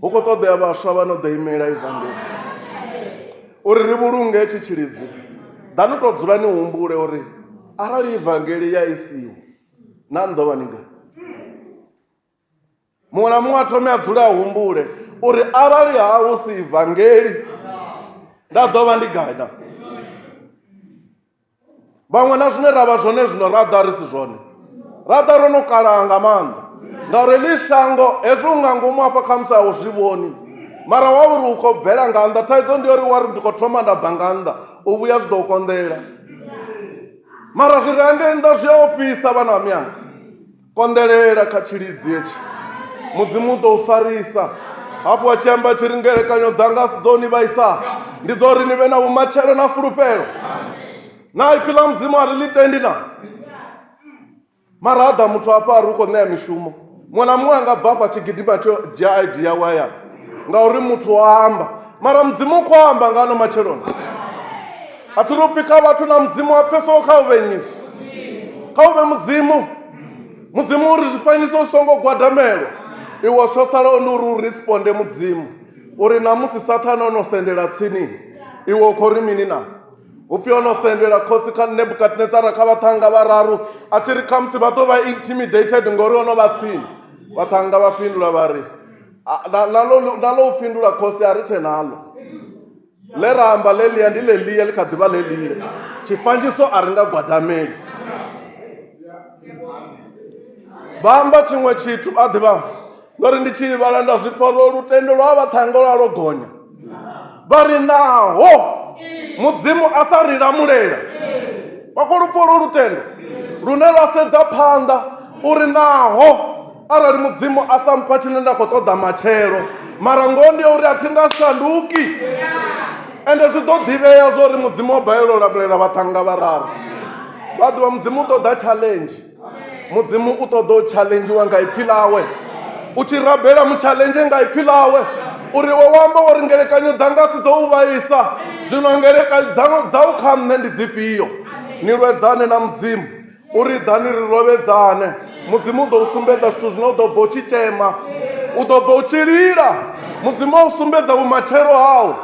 hu khou ṱoḓea vhaswa vha no ḓo imela ivangeli uri ri vhulunge tshi tshilidzi ḓanu tou dzula ni humbule uri arali ivangeli ya isiwo na ni ḓo vha ni nga muṅwe na muṅwe a thome a dzule a humbule uri arali ha hu si ivangeli nda ḓo vha ndi gai na vhaṅwe na zwine ra vha zwone zwino ra ḓa ri si zwone ra ḓa ro no kalaha nga maanḓa ngauri ḽi shango hezwi u nga ngomu hafha kha musi a u zwi vhoni mara wa uri u khou bvela nga nnḓa thaidzo ndi uri wa ri ndi khou thoma nda bva nga nnḓa u vhuya zwi ḓo u konḓela mara zwi re hangei nnḓa zwi a ofhisa vhana vha miyanga konḓelela kha tshilidzi hetshi mudzimu u tou farisa hafhu a tshi amba tshi ri ngelekanyo dzanga si dzo ni vhaisa ndi dzo uri ni vhe na vhumatshelo na fulufhelo na ipfi ḽa mudzimu a ri ḽi tendi na mara ada muthu hafha a ri u khou ṋea mishumo muṅwe na muṅwe a nga bva afha tshi gidima tsho dzhia id yawe hayani ngauri muthu o amba mara mudzimu u khou amba nga ano matsheloni a thi ri upfhi kha vhathu na mudzimu wa pfeso kha u vhe nyi kha u vhe mudzimu mudzimu uri zwifanyiso zwi songo gwadamelwa iwe tsho salaho ndi uri u responde mudzimu uri namusi sathane o no sendela tsini iwe u khou ri mini na upfi o no sendela khosi kha nebukadnezara kha vhaṱhanga vhararu a tshi ri khamusi vha ḓo vha intimidated ngori o no vha tsini vhaṱhanga vha fhindula vha ri nalo u fhindula khosi a ri tshe nalo ḽe ra amba ḽeḽia ndi ḽeḽia ḽi kha ḓivha ḽeḽia tshifandziso a ri nga gwadameli vha amba tshiṅwe tshithu a ḓivha ndo ri ndi tshi vhala nda zwi pfa ro lutendo lwa vha ṱhango lwa lwo gonya vha ri naho mudzimu a sa ri lamulela vha khou lupfa lwo lutendo lune lwa sedza phanḓa uri naho arali mudzimu a sa mpha tshine nda khou ṱoḓa matshelo mara ngoho ndi ya uri a thi nga shanduki ende zwi ḓo ḓivhea zwo uri mudzimu o balelwa u lamulela vhaṱhannga vhararu vha ḓivha mudzimu u ṱoḓa challenge mudzimu u ṱoḓa u challengiwa nga ipfhi ḽawe u tshi rabela mutshalenzhe nga ipfhi ḽawe uri wo wamba uri ngelekanyo dzanga si dzo u vhaisa zwino ngelekanyo dzau kha nṋe ndi dzifhio ni lwedzane na mudzimu uri ḓani ri lovhedzane mudzimu u ḓo u sumbedza zwithu zwine u ḓo bva u tshi tshema u ḓo bva u tshi lila mudzimu a u sumbedza vhumatshelo hau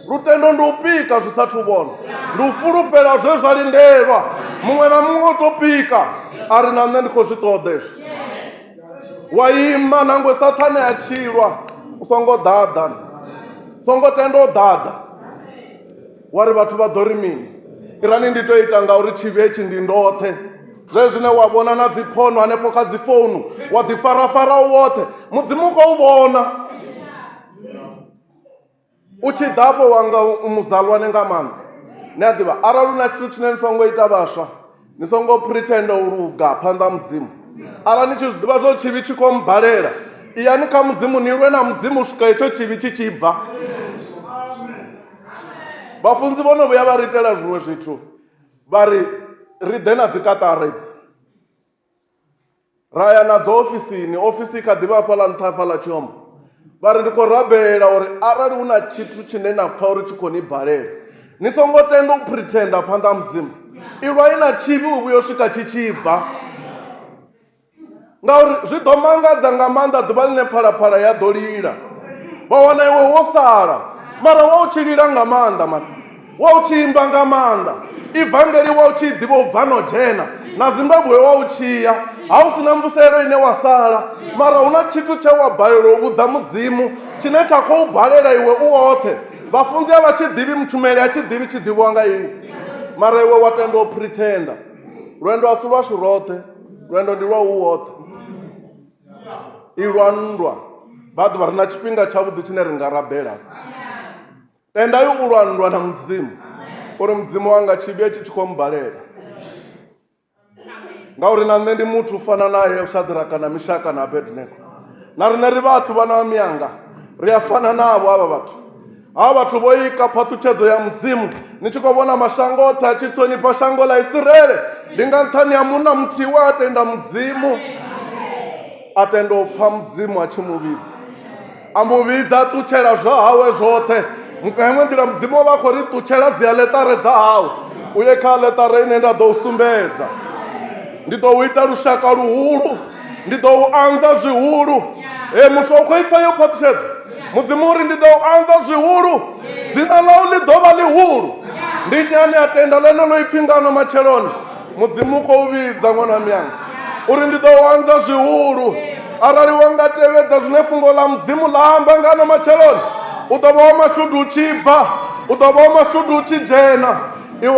lutendo ndi u pika zwi sathu vhona ndi u fulufhela zwe zwa lindelwa muṅwe na muṅwe u to pika a ri na nṋe ndi khou zwi ṱoḓa ezwi wa ima nangwe sathane a tshilwa u songo ḓaḓa songo tenda u ḓaḓa wa ri vhathu vha ḓo ri mini irani ndi to ita ngauri tshivhi hetshi ndi ndoṱhe zwe zwine wa vhona na dziphono hanefho kha dzi founu wa ḓi farafara u woṱhe mudzimu u khou vhona u tshi ḓafho wanga muzalwane nga maanḓa ni a ḓivha arali u na tshithu tshine ni songo ita vhaswa ni songo pretenda u luga phanḓa ha mudzimu arali ni tshi zwi ḓivha zwo tshivhi tshi khou mbalela iyani kha mudzimu ni lwe na mudzimu u swika hetsho tshivhi tshi tshi bva vhafunzi vho no vhuya vha ri itela zwiṅwe zwithu vha ri ri ḓe na dzikaṱara idzi ra ya na dzo ofisini ofisi i kha ḓivha hafha ḽa nṱha hafha ḽa tshiombo vha ri ndi khou rabela uri arali hu na tshithu tshine na pfha uri tshi khou ni balela ni songo tenda u pretenda phanḓa ha mudzimu ilwai na tshivhi u vhuyo swika tshi tshi bva ngauri zwi ḓo mangadza nga maanḓa ḓuvha ḽine phalaphala ya ḓo lila vha wana iwe wo sala mara wa u tshi lila nga maanḓa mani wa u tshi imba nga maanḓa ivangeli wa u tshi ḓivha u bva no dzhena na zimbabwe wa u tshiya ha u si na mvuselo ine wa sala mara hu na tshithu tshe wa balelwa u vhudza mudzimu tshine tsha khou balela iwe u woṱhe vhafunzi a vha tshi ḓivhi mutshumeli a tshi ḓivhi tshi ḓivhiwa nga iwe mara iwe wa tenda u pretenda lwendo a si lwashu roṱhe lwendo ndi lwa u woṱhe i lwa nndwa vha ḓuvha ri na tshifhinga tshavhuḓi tshine ri nga rabela tendai u lwa nndwa na mudzimu uri mudzimu wanga tshi vhuye tshi tshi khou mbalela ngauri na nṋe ndi muthu u fana naye u shadraka na mishaka na abednego na riṋe ri vhathu vhana vha miyanga ri a fana navho avha vhathu havha vhathu vho ika phaṱhutshedzo ya mudzimu ni tshi khou vhona mashango oṱhe a tshi ṱhonifha shango ḽa isirele ndi nga nṱhani ha munna muthihi we a tenda mudzimu a tenda u pfha mudzimu a tshi mu vhidza a mu vhidza a ṱutshela zwa hawe zwoṱhe nga iṅwe nḓila mudzimu o vha a khou ri ṱutshela dzi aḽeṱare dza hawe u ye kha aḽeṱare ine nda ḓo u sumbedza ndi ḓo u ita lushaka luhulu ndi ḓo u anza zwihulu e muswa u khou ipfa yo phaṱhutshedzo mudzimu uri ndi ḓo u anza zwihulu dzina ḽau ḽi ḓo vha ḽihulu ndi nyane a tenda ḽeneḽo ipfi ngano matsheloni mudzimu u khou vhidza ṅwana wa miyanga uri ndi ḓo wanza zwihulu arali wa nga tevhedza zwine fhungo ḽa mudzimu ḽa amba ngano matsheloni u ḓo vha wa mashudu u tshi bva u ḓo vha wa mashudu u tshi dzhena iwe